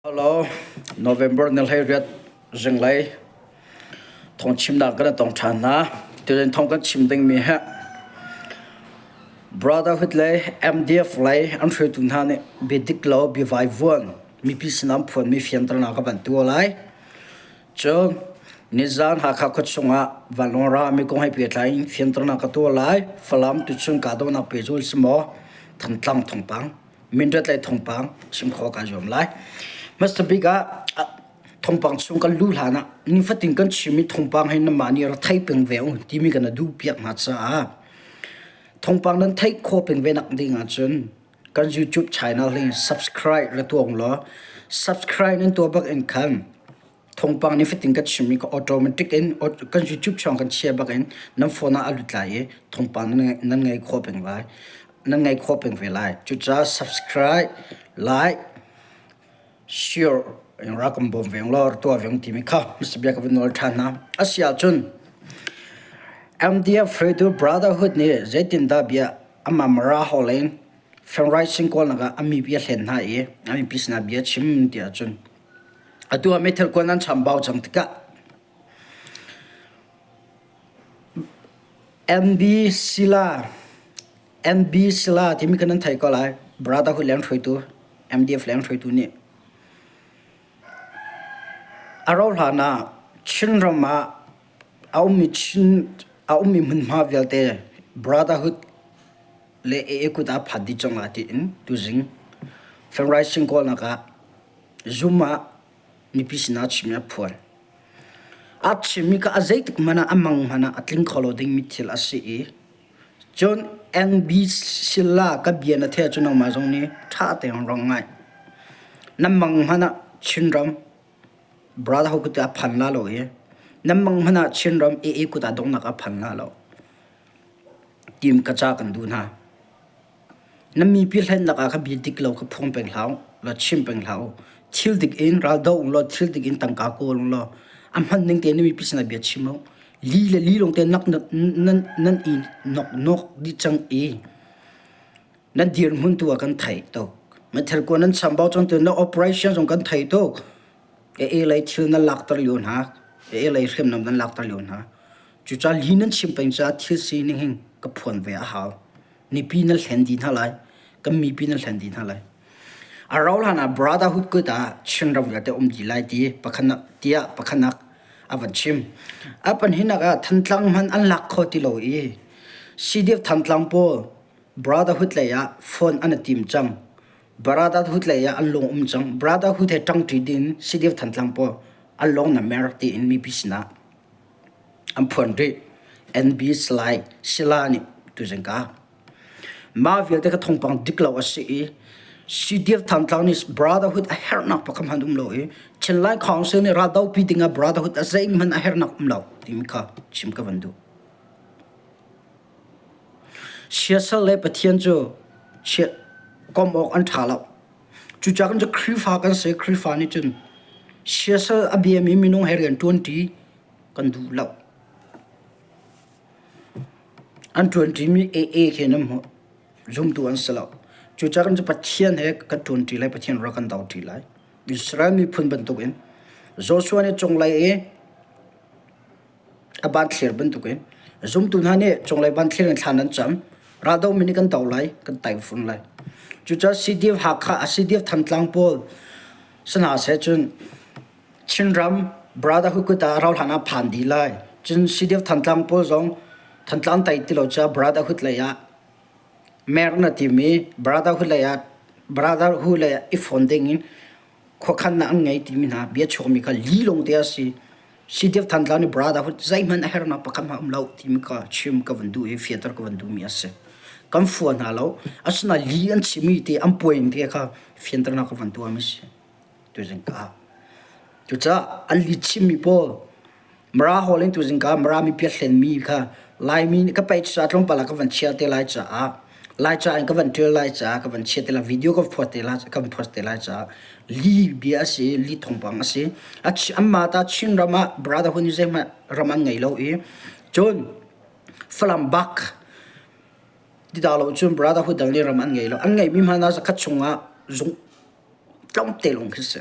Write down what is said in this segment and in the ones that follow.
Hello, November na hlei riat ringlei thong chimnak kan tong than na tuan thong kan chim ding mi he brotherhood lei MDF lei an hre tu hna nih bidik lo bi vai vuan mi pi sinam phuan mi fian tarna ka ban tu lai chu nizan hakha kho chungah vanlong ra mi kong hai pe tlain fian tarna ka tu lai falam tu chung ka do nak pe jul simo thantlang thongpang minrat le thongpang sim kho ka zuam lai hmasa bik ah thongpang chung kan lu hlan ah nifatin kan chim i thongpang hin nama ni ra thai peng ve ung timi kan adu piak ma caah thongpang nan thai kho peng ve nak ding ah cun kan youtube channel hi subscribe la tuang law subscribe nan to bak in khan thongpang nih fatin kan chim i ka automatic in kan YouTube chawng kan chia bak in nan phone ah a lut lai i thongpang nan ngei kho peng lai nan ngei kho peng ve lai cucaah subscribe like share rakam bawm veng lo tua veng ti mi kha msbia ka nol than na asia chun MDF Fredo Brotherhood ni zeitin da bia ama mara holen friend rising call naga ami bia hlen na i ami pisna bia chim ti achun Atu ah meithal kuan an cham bau cang tikah MB Sila MB Sila timi kan nan thei ko lai brother hu leng hruaitu MDF leng hruaitu nih a ro hlan ah Chin ram ah a ummi Chin a ummi hmunhma vialte brotherhood le AA kut ah phat dih cang la tiin tuzing February sing kawlnak ah Zum ah mipi sinah a chimmi a phual. A chimmi kha a zeitik hmanh ah a mang hmanh ah a tling kho lo ding mi thil a si i cun NB sila ka bia na theih ahcun nangmah zong nih ṭha tein rong ngai. Nan mang hmanh ah Chinram brother ho kut ah a phan la lo i nan mang hmanh ah Chinram AA kut ah donghnak a phan la lo. Tim ka ca kan duh hna. Na mipi hlennak ah kha bi dik lo kha phuang peng hlah u, law chim peng hlah u. Thil dik in ral doh ung law thil dik in tangka kawl ung law a hman ning tein na mipi sinah bia chim u. Li le li lawng tein nak nan, nan i nawknawk dih cang i nan dirhmun tu ah kan theih tuk. Meithal kuan nan chambau cang tu na operation zong kan theih tuk. E e lei thil nan lakter lio hna. E e lei hriamnam nan lakter lio hna. Cuca li nan chim peng caah thil sining hin ka phuan ve a hau. Nipi nan hlen di hna lai. Kan mipi nan hlen di hna lai. A rau hlan ah brotherhood kut ah chinram vialte um dih lai ti pakhanak tiah pakhanak a van chim. A panhinak ah Thantlang hman an lak kho ti lo i CDF Thantlang pawl brotherhood lei ah phone an i tim cang. Brotherhood lei ah an lung um cang. Brotherhood he ṭangṭi ding CDF Thantlang pawl an lung na mer tiin mipi sinah an phuan rih. And be sly sila nih tuzing ka mah vialte ka thawngpang dik lo a si i Sidir Thantlang nih brotherhood a herhnak pakhat hmanh um lo i Chinlai Council nih raldopi dingah brotherhood a zeihmanh a herhnak um lo timi kha chim ka van duh. Siasal le Pathian cu komh awk an ṭha lo. Cucaah kan cu Khrihfa kan si. Khrihfa nih cun siasal a biami minung he rian ṭuanṭi kan duh lo. An ṭuanṭimi AA khi nan hmuh. Zumtu an si lo. Cucaah kan cu Pathian he kan ṭuanṭi lai. Pathian rak kan doṭi lai. Israel miphun bantukin Joshua nih cunglei i a ban thlir bantuk i zumtu hna nih cunglei ban thlir in thlan an cam. Raldo min i kan do lai, kan taifung lai. Cucaah CDF Hakha, CDF Thantlang pawl si hna seh cun Chinram Brother Hukut ah rau hlan ah phan dih lai. Cun CDF Thantlang pawl zong Thantlang tai ti lo caah Brotherhood lei ah mer na timi Brotherhood lei ah Brotherhood lei ah i fon ding in Khuakhannak an ngei timi hna bia chuakmi kha li longte a si. Sideuh than tlau nih brother hu zeihmanh a hernak pakhat hmanh a um lo timi kha chim ka van duh i fianter ka van duhmi a si. Kan fua hna lo. Asinain li an chimmi te an puaing te kha fianternak ka van tuahmi a si. Tuzing ka. Cucaah an li chimmi pawl Mara hall in tuzing ka Mara mipia thlenmi kha Laimi nih ka paih cucaah tlawmpal ah ka van chiah te lai caah Laica in ka van ṭial lai caah ka van chiah te lai video ka phuat te lai kan phuat te lai caah li bia a si li thawngpang a si a chi- anmah ta Chin ram ah brotherhood nih zeihmanh ram an ngei lo i cun Falam bak ti dah lo cun brotherhood dang nih ram an ngei lo an ngeihmi hmanh ah zakhat chung ah zung tlawmte lawng khi a si.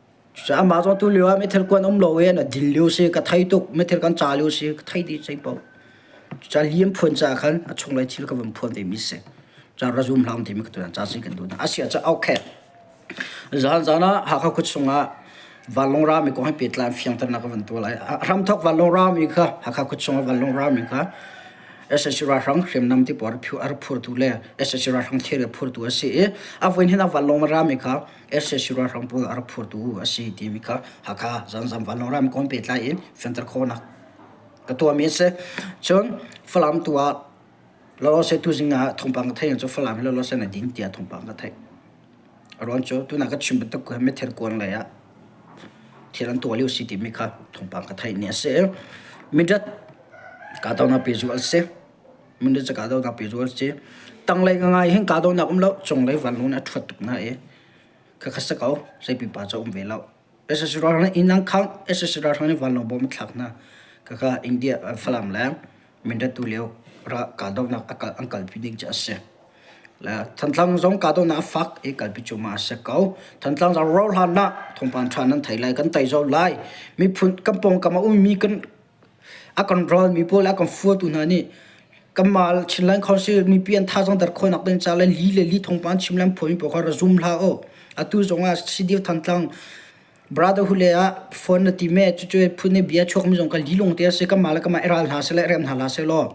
Cucaah amah cu atu lio ah mithil kuan um lo i an dil lio si, ka thei tuk, mithil kan ca lio si, ka thei dih zei paoh. Cucaah lian phuan caah khan a chunglei thil ka vun phuan vemi si. Cucaah razum hlang timi ka tuan, ca si kan duh hna. Asiah cu okay. Zan zan ah Hakha kut chung ah vanlong rami kong he pehtlain fiangternak ka van tuah lai. Hramthok vanlong rami kha Hakha kut chung ah vanlong rami kha SSC Ralhrang hriamnam ti puar phu ar phurtu le SSC Ralhrang thir phurtu a si i a voin hin a vanlong rami kha RCC ralhrang pawl a rak phurtu a si timi kha Hakha Zanzam Vanlawng Ramkawm pehtlai in fianter khawhnak ka tuahmi a si. Cun Falam tu ah lawlaw se tu zing ah thawngpang ka theih cu Falam in lawlaw se na ding tiah thawngpang ka theih. Ruan cu tuna ka chim bantuk ku me ther kuang lei ah thil an tuah lio si timi kha thawngpang ka theih ni a si. Mindat ka tawna pe zu al si. min de chaka do ga pe zo che tang lai ngai hin ka do na kum lo chung lai van lun a thuat tuk na e kha kha sa ko sai pi pa cha um ve lo SSR na inang khang SSR thang ni van lo bom thlak na kha kha India falam la min de tu leo ra ka do na akal uncle pi ding cha se la thantlang zong ka do na fak e kal pi chuma se ko thantlang za ro hlan na thong pan than nan thai lai kan tai zo lai mi phun kampong kama um mi kan a kan ralmi pawl a kan fuatu hna nih kanmah Chinland Council mipi an tha zong der khawi nak den ca le li le li thong pa an chim len phuami pawl kha ra zum hla o atu zong ah Sidir Thantlang brotherhood le ah phone na ti me cu cu phun ne bia chuak mi zong ka li lung te ase kanmah le kanmah i ral hna se le rem hna la se law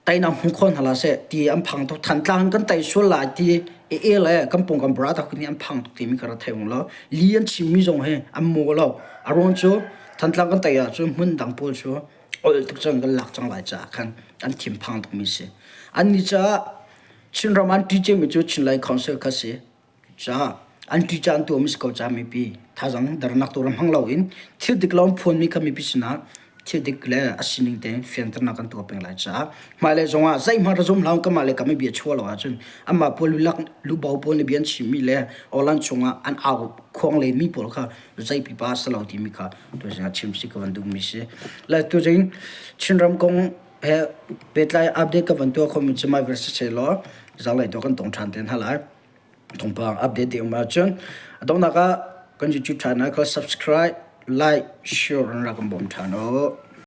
tainak hmu kho hna la seh ti an phang tuk thantlang kan tai sual lai ti e e le kan pung kan bra tak ni an phang tuk ti mi kara thei lo li an chim mi zong hi an mo lo aron chu thantlang kan tai ah chu hmun dang pawl chu ol tuk cang kan lak cang lai cha khan an thim phang tuk mi si an ni cha chin ram an ti che mi chu chin lai council kha si An ṭi ca an tuah mi si ko ca mipi. Thazaang dernak tu ram hmang loin thil dik lo an phuan mi kha mipi sinah thil dik le a sining tein fianternak kan tuah peng lai caah hmailei zongah zeihmanh ra zum hlah u kanmah le kanmah bia chuah lo ahcun anmah pawl lulak lubo pawl nih bia an chim mi le awlan chungah an au khuang le mi pawl kha zei pipa a si lo timi kha tuah zingah chim si ka van duh mi si. Le tuzing Chinram kong pehtlai update ka van tuah khomi cu my versus si law zanglei tu kan tong ṭhan te hna lai thawngpang update te um ahcun a donghnak ah kan YouTube channel kha subscribe like share in rak kan bawm ṭhan u